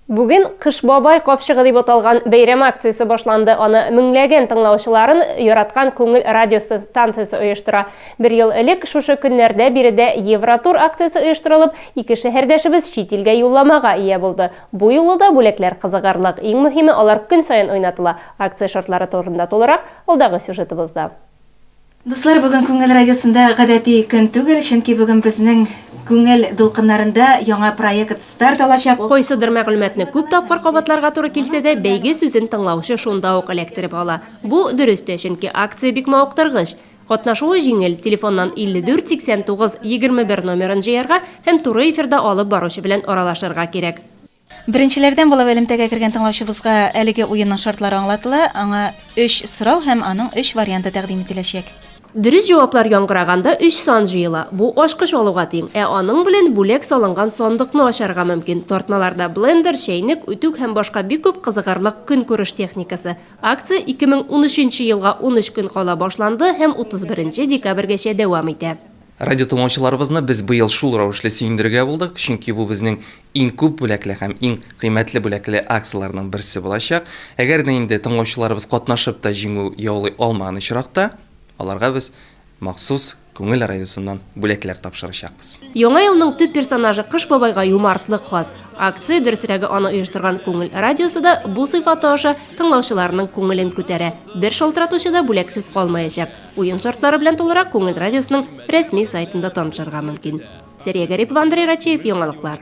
Бүген Кыш бабай капчыгы дип аталган бәйрәм акциясе башланды. Аны меңләгән тыңлаучыларын яраткан Күңел радиосы станциясе оештыра. Бер ел элек шушы көннәрдә биредә Евротур акциясе оештырылып, ике шәһәрдәшебез чит илгә юлламага ия булды. Бу юлы да бүләкләр кызыгырлык. Иң мөһиме, алар көн саен уйнатыла. Акция шартлары турында тулырак, алдагы сюжетыбызда. Дуслар, бүген Күңел радиосында гадәти көн түгел, чөнки бүген безнең Күңел дулкыннарында яңа проект старт алачак. Кайсыдыр мәгълүматны күп тапкыр кабатларга туры килсә дә, бәйге сүзен тыңлаучы шунда ук эләктереп ала. Бу, дөрес тә, чөнки акция бик мавыктыргыч. Катнашуы җиңел, телефоннан 54 89 21 номерын җыярга һәм туры эфирда алып баручы белән аралашырга кирәк. Беренчеләрдән булып элемтәгә кергән тыңлаучыбызга әлеге уенның шартлары аңлатыла, аңа өч сорау һәм аның өч варианты тәкъдим ителәчәк. Дөрес җаваплар яңгыраганда өч сан җыела. Бу ачкыч алуга тиң, ә аның белән бүләк салынган сандыкны ачарга мөмкин. Тартмаларда блендер, чәйнек, үтүк һәм башка бик күп кызыгырлык көнкүреш техникасы. Акция 2013 нче елга унөч көн кала башланды һәм 31 декабрьгәчә дәвам итә. Радиотыңлаучыларыбызны без быел шул рәвешле сөендерергә булдык, чөнки бу безнең Иң күп бүләкле һәм иң кыйммәтле бүләкле акцияләрнең берсе булачак. Әгәр дә инде тыңлаучыларыбыз катнашып та җиңү яулый алмаган очракта, аларга без махсус Күңел радиосыннан бүләкләр тапшырачакбыз. Яңа елның төп персонажы Кыш бабайга юмартлык хас. Акция, дөресрәге, аны оештырган Күңел радиосы да бу сыйфаты аша тыңлаучыларының күңелен күтәрә. Бер шалтыратучы да бүләксез калмаячак. Уен шартлары белән тулырак Күңел радиосының рәсми сайтында танышырга мөмкин. Сәрия Гарипова, Андрей Рачеев, Яңалыклар.